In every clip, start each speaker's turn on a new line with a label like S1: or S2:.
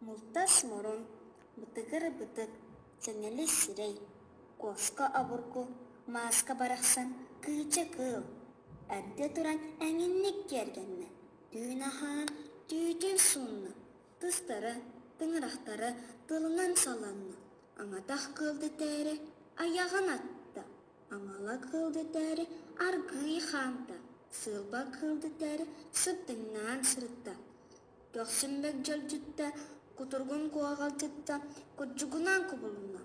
S1: Мултас мурун, бытыгыр бытык, сэҥэли сирэй, куоска обургу, мааска барахсан кыыча кыыл. Эрдэ туран эҥинник киэргэннэ, түүн аһаан түүтүн суунна. Тыстара, тыҥырахтара тылынан саланна, аҥатах кыыл дэтээри айаҕын атта, аҥала кыыл дэтээри аргыый хаамта, сыылба кыыл дэтээри сырдыҥнаан сырытта, көхсүмбэк дьалдьытта, кутургун куоҕалдьытта, курдьугунаан кубулунна,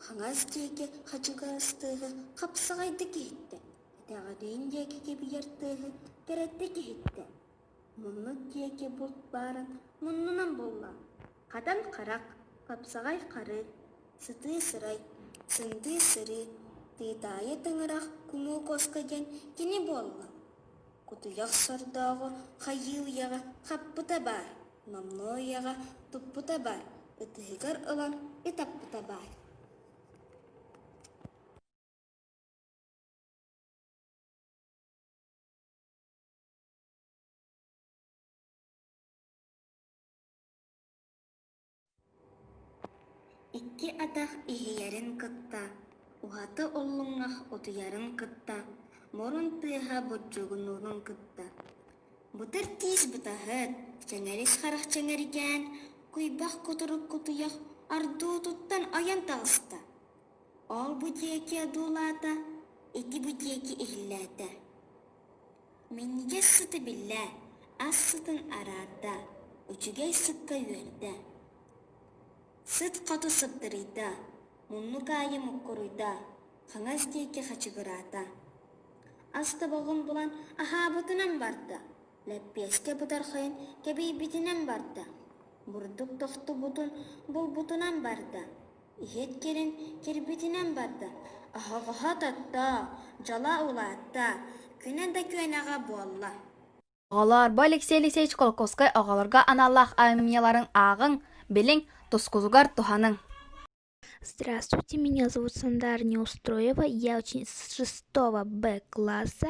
S1: хаҥас диэки хачыгырас тыаһы хапсаҕайдык иһиттэ, кэтэҕэлиин диэки кэбиьэр тыаһы кэрэтик иһиттэ Муннук диэки булт баарын муннунан булла, хатан харах, хапсаҕай хары, сытыы сырай, сындыы сырыы, тыытаайы тыҥырах кумуу хоско диэн кини буолла. Кутуйах сордооҕу хайыы уйаҕа хаппыта баар, номнуо уйаҕа туппута баар, ытыһыгар ылан ытаппыта баар Икки атах иһийэрин кытта, уһата уллуҥах утуйарын кытта, мурун тыаһа буддьугунуурун кытта. Бытар тиис бытаһыт, чэҥэрис харах чэҥэргээн, куйбах кутурук кутуйах ардуутуттан ойон таҕыста. Ол бу диэки одуулаата, ити бу диэки иһиллээтэ Минньигэс сыты биллээ, ас сытын араарда, үчүгэй сыкка үөрдэ. Сыт хоту сыттарыйда, муннук аайы муккуруйда, хаҥас диэки хачыгыраата. Ас тобоҕун булан аһаабытынан барда, лэппиэскэ бытархайын кэбийбитинэн барда, бурдук тохтубутун булбутунан барда, Ийэт кэлин кэлбитинэн барда, аһаҕаһа тоттоо, дьала улаатта, күнэ да күөнэҕэ буолла Оҕолорбо Алексей Алексеевич Колокольскай оҕолорго аналлаах айымньыларын ааҕыҥ, билиҥ, тускугугар туһаныҥ. Здравствуйте, меня зовут Сандар Неустроева, я очень с шестого Б класса.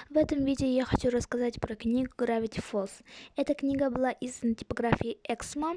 S1: В этом видео я хочу рассказать про книгу Gravity Falls. Эта книга была издан типографией Эксмо.